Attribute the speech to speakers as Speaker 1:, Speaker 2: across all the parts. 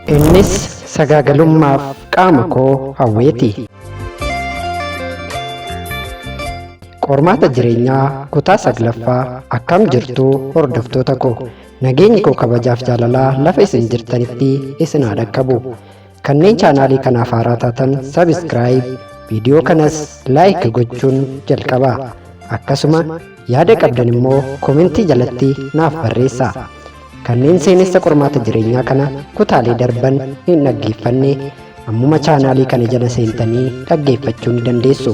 Speaker 1: Innis sagaagalummaaf qaama koo hawweeti. Qormaata jireenyaa kutaa saglaffaa akkam jirtu hordoftoota koo nageenyi koo kabajaaf jaalalaa lafa isin jirtanitti isin haa dhaqqabu. Kanneen chaanaalii kanaaf haaraa taatan sabiskiraayib viidiyoo kanas laayik gochuun jalqaba. Akkasuma yaada qabdan immoo komentii jalatti naaf barreessaa. Kanneen seenessa qormaata jireenyaa kana kutaalee darban hin dhaggeeffanne ammuma chaanaalii kana jala seentanii dhaggeeffachuu ni dandeessu.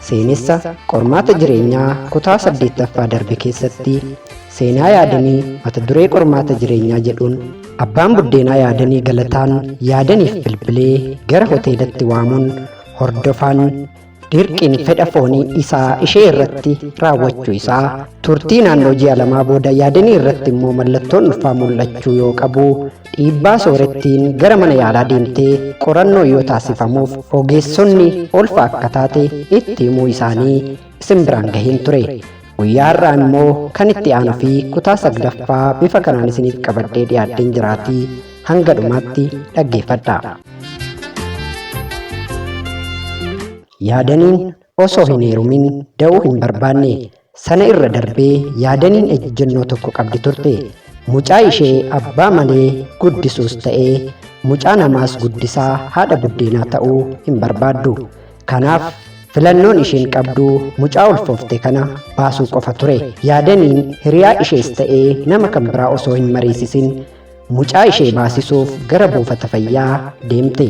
Speaker 1: Seenessa qormaata jireenyaa kutaa saddeettaffaa darbe keessatti seenaa yaadanii mata duree qormaata jireenyaa jedhuun abbaan buddeenaa yaadanii galataan yaadaniif bilbilee gara hoteelatti waamuun hordofaan dirqiin fedha foonii isaa ishee irratti raawwachuu isaa turtii naannoo ji'a lamaa booda yaadanii irratti immoo mallattoon ulfaa mul'achuu yoo qabu dhiibbaa soorettiin gara mana yaalaa deemtee qorannoo yoo taasifamuuf ogeessonni ulfa akka taate itti himuu isaanii isin biraan gaheen ture Guyyaa har'aa immoo kan itti aanu fi kutaa saglaffaa bifa kanaan isiniif qabadhee dhiyaadheen jiraatii hanga dhumaatti dhaggeeffadha. Yaadaniin osoo hin heerumin da'uu hin barbaanne sana irra darbee yaadaniin ejjennoo tokko qabdi turte. Mucaa ishee abbaa malee guddisuus ta'ee mucaa namaas guddisaa haadha buddeenaa ta'uu hin barbaaddu. Kanaaf filannoon isheen qabdu mucaa ulfoofte kana baasuu qofa ture. Yaadaniin hiriyaa ishees ta'ee nama kan biraa osoo hin mariisisin mucaa ishee baasisuuf gara buufata fayyaa deemte.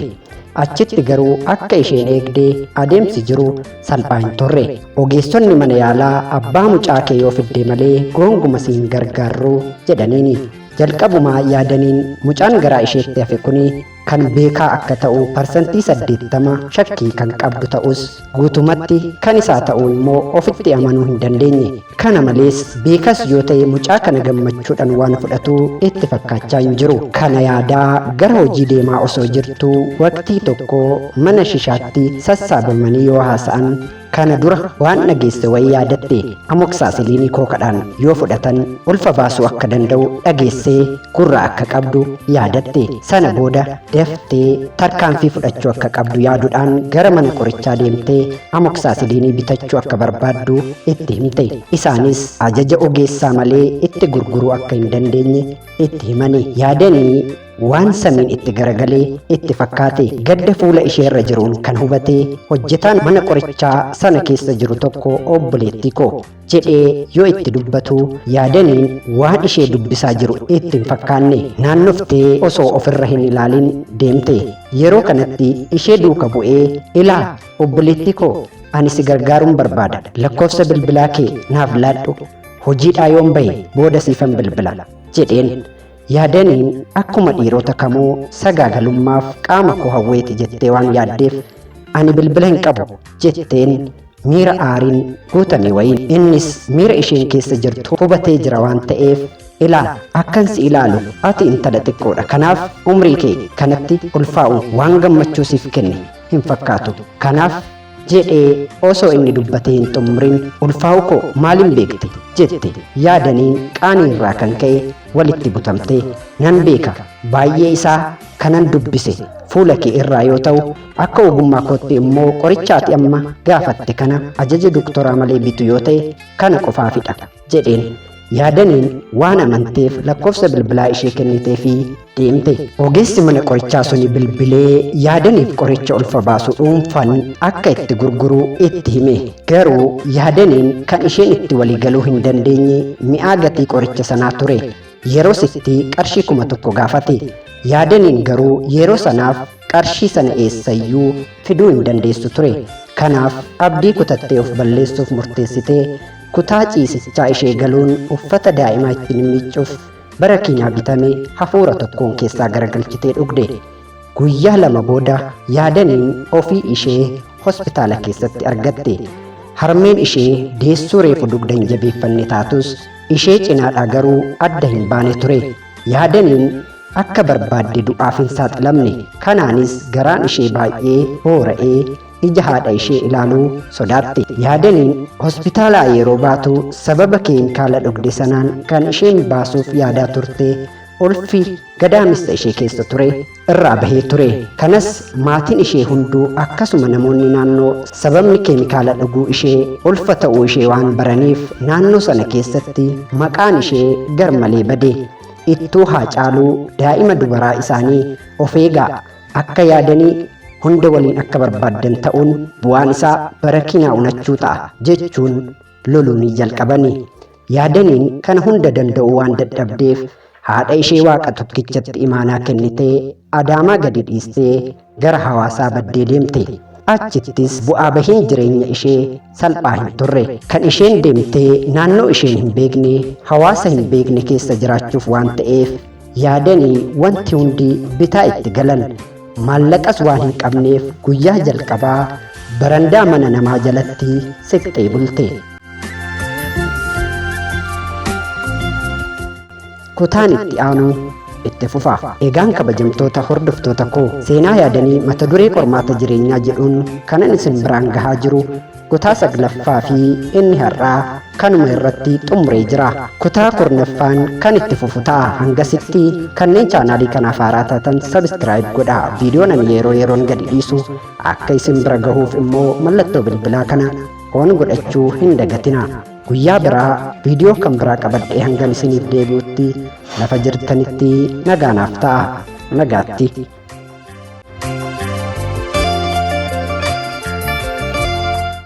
Speaker 1: Achitti garuu akka isheen eegde adeemsi jiru salphaa hin turre. Ogeessonni mana yaalaa abbaa mucaa kee yoo fidde malee goonguma siin gargaarru jedhaniini. Jalqabumaa yaadaniin mucaan garaa isheetti hafe kuni kan beekaa akka ta'u parsantii 80 shakkii kan qabdu ta'us guutumatti kan isaa ta'uu immoo ofitti amanuu hin dandeenye kana malees beekas yoo ta'e mucaa kana gammachuudhaan waan fudhatu itti fakkaachaa hin jiru kana yaadaa gara hojii deemaa osoo jirtu waqtii tokko mana shishaatti sassaabamanii yoo haasa'an Kana dura waan dhageesse wayii yaadatte amoksaasiliinii kookadhaan yoo fudhatan ulfa baasuu akka danda'u dhageessee gurra akka qabdu yaadatte sana booda daftee tarkaanfii fudhachuu akka qabdu yaaduudhaan gara mana qorichaa deemtee amoksaasiliinii bitachuu akka barbaaddu itti himte isaanis ajaja ogeessaa malee itti gurguruu akka hin dandeenye itti himani yaadanii Waan samiin itti garagalee itti fakkaate gadda fuula ishee irra jiruun kan hubate hojjetaan mana qorichaa sana keessa jiru tokko obboleettii koo jedhee yoo itti dubbatu yaadaniin waan ishee dubbisaa jiru itti hin fakkaanne naannoftee osoo ofirra hin ilaalin deemte yeroo kanatti ishee duuka bu'ee ilaa obboleettii koo ani si gargaaruun barbaada lakkoofsa bilbilaa kee naaf laadhu hojiidhaa yoon bahe booda siifan bilbila jedheen Yaadaniin akkuma dhiirota kamuu sagaagalummaaf qaama koo hawweeti jettee waan yaaddeef ani bilbila hin qabu jetteen miira aariin guutamee wayiin innis miira isheen keessa jirtu hubatee jira waan ta'eef ilaa akkan si ilaalu ati intala xiqqoodha kanaaf umrii kee kanatti ulfaa'uun waan gammachuu siif kenne hin fakkaatu kanaaf jedhee osoo inni dubbatee hin xumurin ulfaa'u koo maalin beekte jette yaadaniin qaanii irraa kan ka'e walitti butamte nan beeka baay'ee isaa kanan dubbise fuula kee irraa yoo ta'u akka ogummaa kootti immoo qorichaati amma gaafatte kana ajaja doktoraa malee bitu yoo ta'e kana qofaafidha jedheen yaadaniin waan amanteef lakkoofsa bilbilaa ishee kennitee fi deemte ogeessi mana qorichaa suni bilbilee yaadaniif qoricha ulfa baasu dhuunfan akka itti gurguru itti hime garuu yaadaniin kan isheen itti waliigaluu hin dandeenye mi'aa gatii qoricha sanaa ture yeroo sitti qarshii kuma tokko gaafate yaadaniin garuu yeroo sanaaf qarshii sana eessayyuu fiduu hin dandeessu ture kanaaf abdii kutattee of balleessuuf murteessite Kutaa ciisichaa ishee galuun uffata daa'ima ittiin miiccuuf bara kiinaa bitame hafuura tokkoon keessaa garagalchitee dhugde. Guyyaa lama booda yaadaniin ofii ishee hospitaala keessatti argatte. Harmeen ishee deessuu reefu dugda hin jabeeffanne taatus ishee cinaadhaa garuu adda hin baane ture. Yaadaniin akka barbaadde du'aaf hin saaxilamne. Kanaanis garaan ishee baay'ee boora'ee ija haadha ishee ilaaluu sodaatte. Yaadaniin hospitaalaa yeroo baatu sababa keemikaala dhugde sanaan kan isheen baasuuf yaadaa turte ulfi gadaamessa ishee keessa ture irraa bahee ture. Kanas maatiin ishee hunduu akkasuma namoonni naannoo sababni keemikaala dhuguu ishee ulfa ta'uu ishee waan baraniif naannoo sana keessatti maqaan ishee garmalee bade. Ittuu haa caaluu daa'ima dubaraa isaanii of eegaa Akka yaadanii hunda waliin akka barbaaddan ta'uun bu'aan isaa bara kinaa unachuu ta'a jechuun loluu ni jalqabani. Yaadaniin kana hunda danda'uu waan dadhabdeef haadha ishee waaqa tokkichatti imaanaa kennitee adaamaa gadi dhiistee gara hawaasaa baddee deemte. Achittis bu'aa bahiin jireenya ishee salphaa hin turre kan isheen deemtee naannoo isheen hin beekne hawaasa hin beekne keessa jiraachuuf waan ta'eef yaadanii wanti hundi bitaa itti galan maallaqas waan hin qabneef guyyaa jalqabaa barandaa mana namaa jalatti siqxee bulte. Kutaan itti aanuu itti fufa. Egaan kabajamtoota hordoftoota koo seenaa yaadanii mata duree qormaata jireenyaa jedhuun kanan isin biraan gahaa jiru kutaa saglaffaa fi inni har'aa kanuma irratti xumuree jira. Kutaa kurnaffaan kan itti fufu ta'a hangasitti kanneen chaanaalii kanaaf haaraa taatan sabiskiraayib godha. Viidiyoon ani yeroo yeroon gadi dhiisu akka isin bira gahuuf immoo mallattoo bilbilaa kana oon godhachuu hin dagatina. Guyyaa biraa viidiyoo kan biraa qabadhee hangan isiniif deebi'utti lafa jirtanitti nagaa naaf ta'a. Nagaatti.